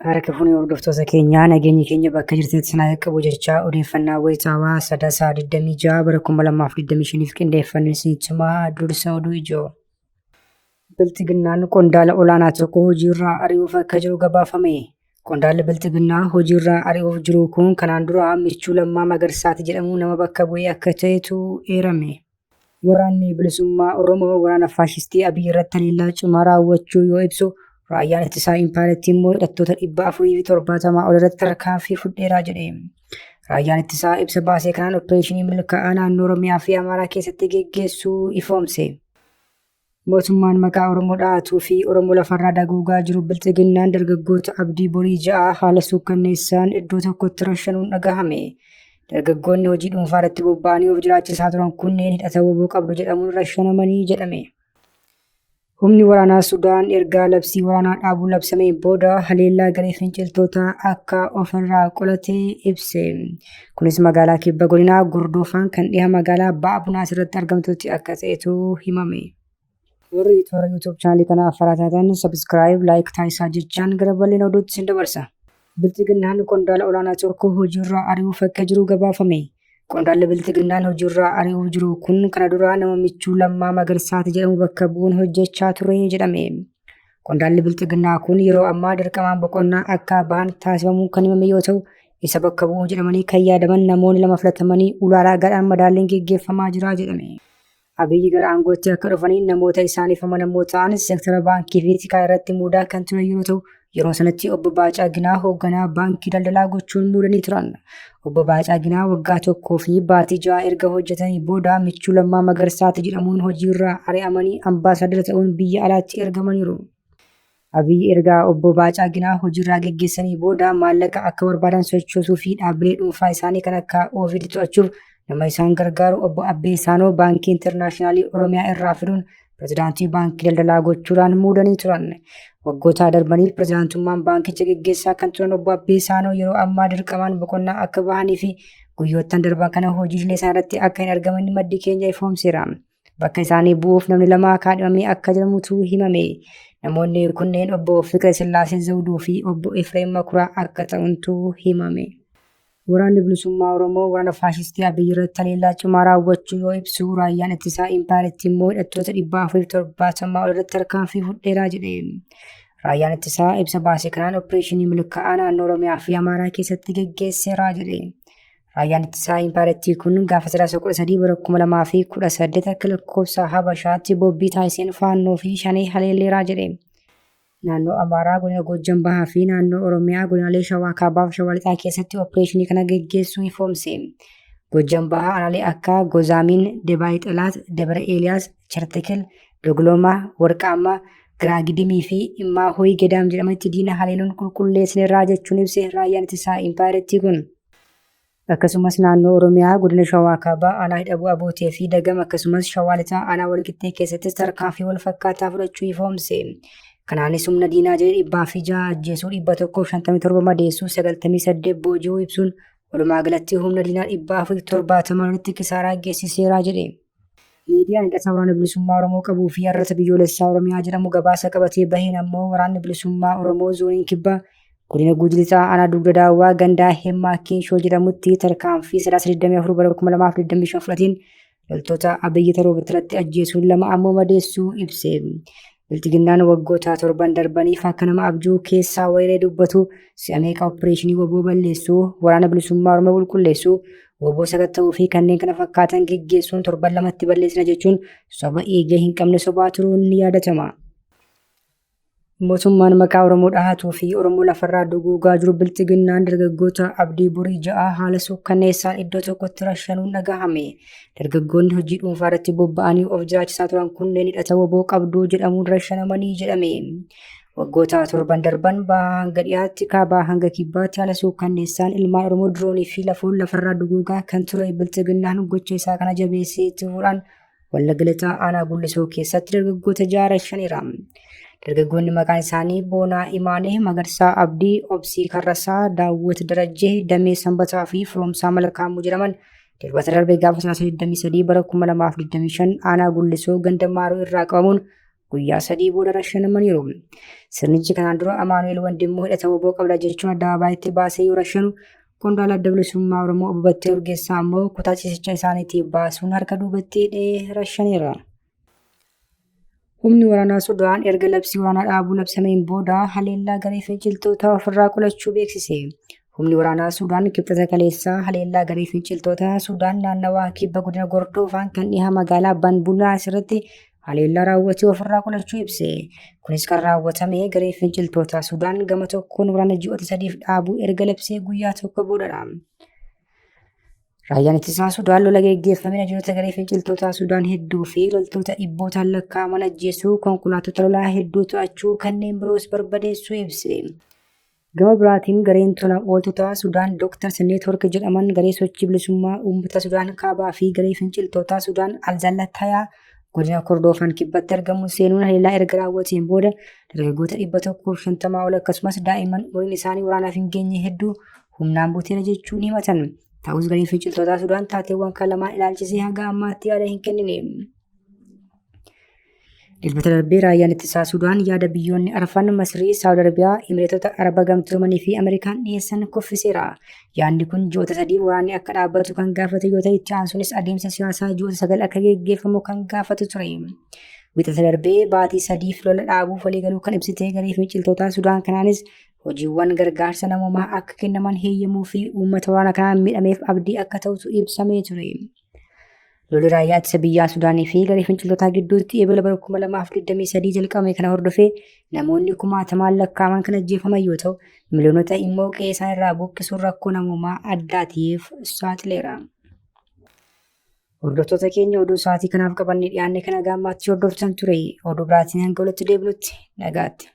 Harka fuunee hordoftoota keenyaa nageenyi keenya bakka jirteetti sinaa qaqqabu jechaa odeeffannaa wayitaawaa sadasaa 26 bara 2025f qindeeffannee isinitti himaa dursa oduu ijoo. Bilxiginnaan qondaala olaanaa tokko hojiirraa ari'uuf akka jiru gabaafame. Qondaalli Bilxiginnaa hojiirraa ari'uuf jiru kun kanaan dura Michuu Lammaa Magarsaati jedhamu nama bakka bu'ee akka ta'etu eerame. Waraanni bilisummaa Oromoo waraana faashistii Abiy irratti haleellaa cimaa raawwachuu yoo ibsu, raayyaan ittisaa impaayerattii immoo hidhattoota 470 ol irratti tarkaanfii fudheeraa jedhe. Raayyaan ittisaa ibsa baasee kanaan opereeshinii milkaa'aa naannoo Oromiyaa fi Amaaraa keessatti geggeessuu ifoomse. Mootummaan maqaa Oromoo dha'atuu fi Oromoo lafarraa dagoogaa jiru bilxiginnaan dargaggoota abdii borii ja'a haala suukkanneessaan iddoo tokkotti rashanuun dhagahame. Dargaggoonni hojii dhuunfaa irratti bobba'anii of jiraachisaa turan kunneen hidhata woboo qabdu jedhamuun rashanamanii jedhame. Humni waraanaa Sudaan ergaa labsii waraanaa dhaabuu labsameen booda haleellaa garee finciltootaa akka ofirraa qolate ibse. Kunis magaalaa kibba godinaa Gordoofaan kan dhiha magaalaa Ba'a Bunaas irratti argamtutti akka ta'etu himame. Warri toora YouTube chaanalii kana affaraa taatan subscribe, like taasisaa jechaan gara bal'ina oduutti sin dabarsa. Bilxiginnaan qondaala olaanaa tokko hojiirraa ari'uuf akka jiru gabaafame. Qondaalli Bilxiginnaan hojiirraa ari'uuf jiru kun kana dura nama michuu Lammaa Magarsaati jedhamu bakka bu'uun hojjechaa ture jedhame. Qondaalli bilxiginnaa kun yeroo ammaa dirqamaan boqonnaa akka ba'an taasifamuun kan himame yoo ta'u, isa bakka bu'uu jedhamanii kan yaadaman namoonni lama filatamanii ulaalaa gadhaan madaalliin geggeeffamaa jira jedhame. Abiyyi gara aangootti akka dhufanii namoota isaaniif amanamoo ta'an seektara baankii fi tikaa irratti muudaa kan ture yoo ta'u, yeroo sanatti obbo Baacaa Ginaa hoogganaa baankii daldalaa gochuun muudanii turan. Obbo Baacaaginaa waggaa tokkoo fi baatii ja'a erga hojjetanii booda michuu lammaa magarsaati jedhamuun hojiirraa ari'amanii ambaasaadara ta'uun biyya alaatti ergamaniiru. Abiyyi erga obbo Baacaaginaa hojiirraa geggeessanii booda maallaqa akka barbaadan sochoosuu fi dhaabbilee dhuunfaa isaanii kan akka Ovid to'achuuf nama isaan gargaaru obbo Abbee Saanoo baankii intarnaashinaalii Oromiyaa irraa fiduun pirezidaantii baankii daldalaa gochuudhaan muudanii turan. Waggoota darbaniif pirezidaantummaan baankicha geggeessaa kan turan obbo Abbee Saanoo yeroo ammaa dirqamaan boqonnaa akka bahanii fi guyyoottan darban kana hojiilee isaaniirratti akka hin argaman maddi keenya ifoomseera. Bakka isaanii bu'uuf namni lama kaadhimamee akka jedhamutu himame. Namoonni kunneen obbo Fiqir Sillaasee Zawuduu fi obbo Efreem Makuraa akka ta'untu himame. Waraanni Bilisummaa Oromoo waraana faashistii Abiy irratti haleellaa cimaa raawwachuu yoo ibsu, raayyaan ittisaa impaayerittii immoo hidhattoota 470 ol irratti tarkaanfii fudheeraa jedhe. Raayyaan ittisaa ibsa baase kanaan opereeshinii milkaa'aa naannoo Oromiyaa fi Amaaraa keessatti geggeesseeraa jedhe. Raayyaan ittisaa impaayerittii kun gaafa sadaasa 13 bara 2018 akka lakkoofsa Habashaatti bobbii taasiseen faannoo fi shanee haleelleeraa jedhe. Naannoo Amaaraa godina Goojjam Bahaa fi naannoo Oromiyaa godinaalee Shawaa Kaabaa fi Shawaa Lixaa keessatti opereeshinii kana geggeessuu ifoomse. Goojjam Bahaa aanaalee akka Gozaamiin, Debaay Xelaat, Dabra Eeliyaas, Chartikil, Dogloomaa, Warqaammaa, Giraagidimii fi Immaa Hoyi Gedaam jedhamanitti diina haleeluun qulqulleessineerraa jechuun ibse raayyaan ittisaa impaayerittii kun. Akkasumas naannoo Oromiyaa godina Shawaa Kaabaa aanaa Hidhabuu Abootee fi Dagam akkasumas Shawaa Lixaa aanaa Walqixxee keessattis tarkaanfii wal fakkaataa fudhachuu ifoomse. Kanaanis humna diinaa jedhe dhibbaa fi ja'a ajjeesuu dhibba tokkoo fi shantamii torba madeessuu sagaltamii saddeet booji'uu ibsuun walumaa galatti humna diinaa dhibbaa fi torbaatama irratti kisaaraa geessiseeraa jedhe. Miidiyaan hidhata waraana bilisummaa Oromoo qabuu fi har'ata biyyoolessaa Oromiyaa jedhamu gabaasa qabatee baheen ammoo waraanni bilisummaa Oromoo zooniin kibbaa godina Guuji Lixaa aanaa dugda daawwaa gandaa Hemmaa Kinshoo jedhamutti tarkaanfii sadaasa 24 bara 2025 fudhateen loltoota Abiyyi Taroobitti irratti ajjeesuun lama ammoo madeessuu ibse. Bilxiginnaan waggoota torban darbaniif akka nama abjuu keessaa wayilee dubbatu si'a meeqa oppireeshinii woboo balleessuu, waraana bilisummaa Oromoo qulqulleessuu, woboo sakatta'uu fi kanneen kana fakkaatan geggeessuun torban lamatti balleessina jechuun soba eegee hin qabne sobaa turuun ni yaadatama. Mootummaan maqaa Oromoo dhahatuu fi Oromoo lafarraa duguugaa jiru bilxiginnaan dargaggoota abdii borii ja'aa haala suukkanneessaan iddoo tokkotti rashanuun dhagahame. Dargaggoonni hojii dhuunfaa irratti bobba'anii of jiraachisaa turan kunneen hidhata woboo qabduu jedhamuun rashanamanii jedhame. Waggoota torban darban bahaa hanga dhiyaatti kaabaa hanga kibbaatti haala suukkanneessaan ilmaan Oromoo diroonii fi lafoon lafarraa duguugaa kan ture bilxiginnaan gocha isaa kana jabeessee itti fuudhaan Wallagga Lixaa aanaa Gullisoo keessatti dargaggoota ja'a rashaniira. Dargaggoonni maqaan isaanii Boonaa Imaanee, Magarsaa Abdii, Obsii Karrasaa, Daawwit Darajjee, Damee Sanbataa fi Firoomsaa Malkaamuu jedhaman Dilbata darbee gaafa sadaasa 23 bara 2025 aanaa gullisoo ganda maaroo irraa qabamuun guyyaa sadii booda rashanamaniiru. Sirnichi kanaan dura Amaanu'eel Wandimmoo hidhata woboo qabda jechuun addabaabaatti baasee yoo rashanu qondaala adda bilisummaa Oromoo obbo Battee Urgeessaa ammoo kutaa ciisicha isaaniitii baasuun harka duubatti hidhee rashaneera. Humni waraanaa Sudaan erga labsii waraanaa dhaabuu labsameen booda haleellaa garee finciltootaa ofirraa qolachuu beeksise. Humni waraanaa Sudaan kibxata kaleessaa haleellaa garee finciltootaa Sudaan naannawaa kibba godina Gordoofaan kan dhiha magaalaa Banbulaa asirratti haleellaa raawwatee ofirraa qolachuu ibse. Kunis kan raawwatame garee finciltootaa Sudaan gama tokkoon waraana ji'oota sadiif dhaabuu erga labsee guyyaa tokko boodadha. Raayyaan ittisaa Sudaan lola geggeeffamina jiroota garee finciltootaa Sudaan hedduu fi loltoota dhibbootaan lakkaa'aman ajjeesuu, konkolaattota lolaa hedduu to'achuu kanneen biroos barbadeessuu ibse. Gama biraatiin gareen tola ooltotaa Sudaan Doktars Neetwork jedhaman garee sochii bilisummaa uummata Sudaan kaabaa fi garee finciltootaa Sudaan Alzallatayaa godina Kordoofan kibbatti argamu seenuun haleellaa erga raawwateen booda dargaggoota dhibba tokkoof shantamaa ol akkasumas daa'imman umuriin isaanii waraanaaf hin geenye hedduu humnaan buteera jechuun himatan. Ta'us gareen finciltootaa Sudaan taateewwan kan lamaan ilaalchisee haga ammaatti yaada hin kennine. Dilbata darbee raayyaan ittisaa Sudaan yaada biyyoonni arfan Masrii, Saawud Arabiyaa, Imireetota Araba Gamtoomanii fi Ameerikaan dhiyeessan kuffiseera. Yaadni kun ji'oota sadii waraanni akka dhaabbatu kan gaafate yoo ta'e itti aansuunis adeemsa siyaasaa ji'oota sagal akka geggeeffamu kan gaafatu ture. Wixata darbee baatii sadiif lola dhaabuuf waliigaluu kan ibsitee garee finciltootaa Sudaan kanaanis hojiiwwan gargaarsa namoomaa akka kennaman heeyyamuu fi uummata waraana kanaan miidhameef abdii akka ta'utu ibsamee ture. Lolli raayyaa ittisa biyyaa Sudaanii fi garee finciltootaa gidduutti eebila bara 2023 jalqabame kana hordofee namoonni kumaatamaan lakkaa'aman kan ajjeefaman yoo ta'u, miliyoonota immoo qe'ee isaan irraa buqqisuun rakkoo namoomaa addaatiif saaxileera. Hordoftoota keenya oduu sa'aatii kanaaf qabannee dhiyaanne kana gaammaatti hordoftan ture oduu biraatiin hanga walitti deebinutti nagaatti.